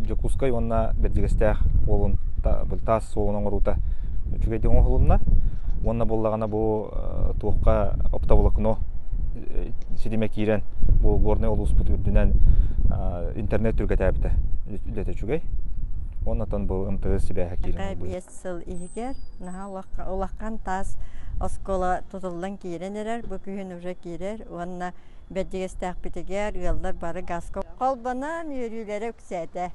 Дьокуускай уонна Бэрдьигэстээх уолун таас суолун оҥоруута үчүгэйдик оҥоһулунна. Уонна буоллаҕына бу туохха оптоволокно ситимэ киирэн бу Горнай улууспут үрдүнэн интернет түргэтээбитэ үлэтэ үчүгэй. Оннотон бу МТС сибээһэ киирэн буолбут. биэс сыл иһигэр наһаа улахан таас оскуола тутуллан киирэн эрэр. Бу күһүн уже киирэр уонна Бэрдьигэстээхпитигэр ыаллар бары гааска холбонон үөрүүлэрэ үксээтэ.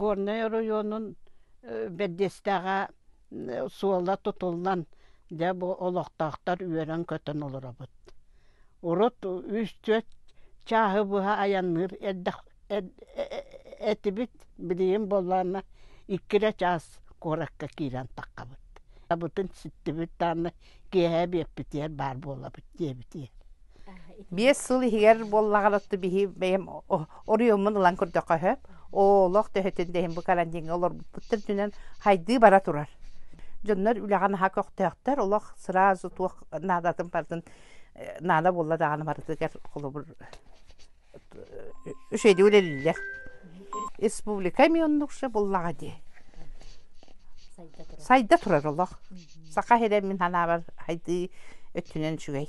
Горнай оройуонун бэрдиэстээҕэ суола тутуллан дьэ бу олохтоохтор үөрэн-көтөн олоробут. Урут үс-түөрт чааһы быһа айанныыр эрдэх этибит билигин буоллаҕына икки эрэ чаас куоракка киирэн таххабыт. Абытын ситтибит даанна киэһэ биэппитигэр баар буолабыт диэбитиэ биэс сыл иһигэр буоллаҕына отто биһи бэйэм оройуоммун ылан көрдөххө сөп олох төһөтүн да иһин бу карантиҥҥа олорбуппуттан түнэн хайдыы бара турар дьоннор үлэҕэ наһаа көхтөөхтөр олох сразу туох наадатын барытын наада буолла даҕаны барытыгар холобур Үчүгэйдик үлэлииллэр. Республика эмиэ оннукша буллаҕа дии. Сайда турар олох. Саха сирин мин санаабар сайдыы өттүнэн үчүгэй.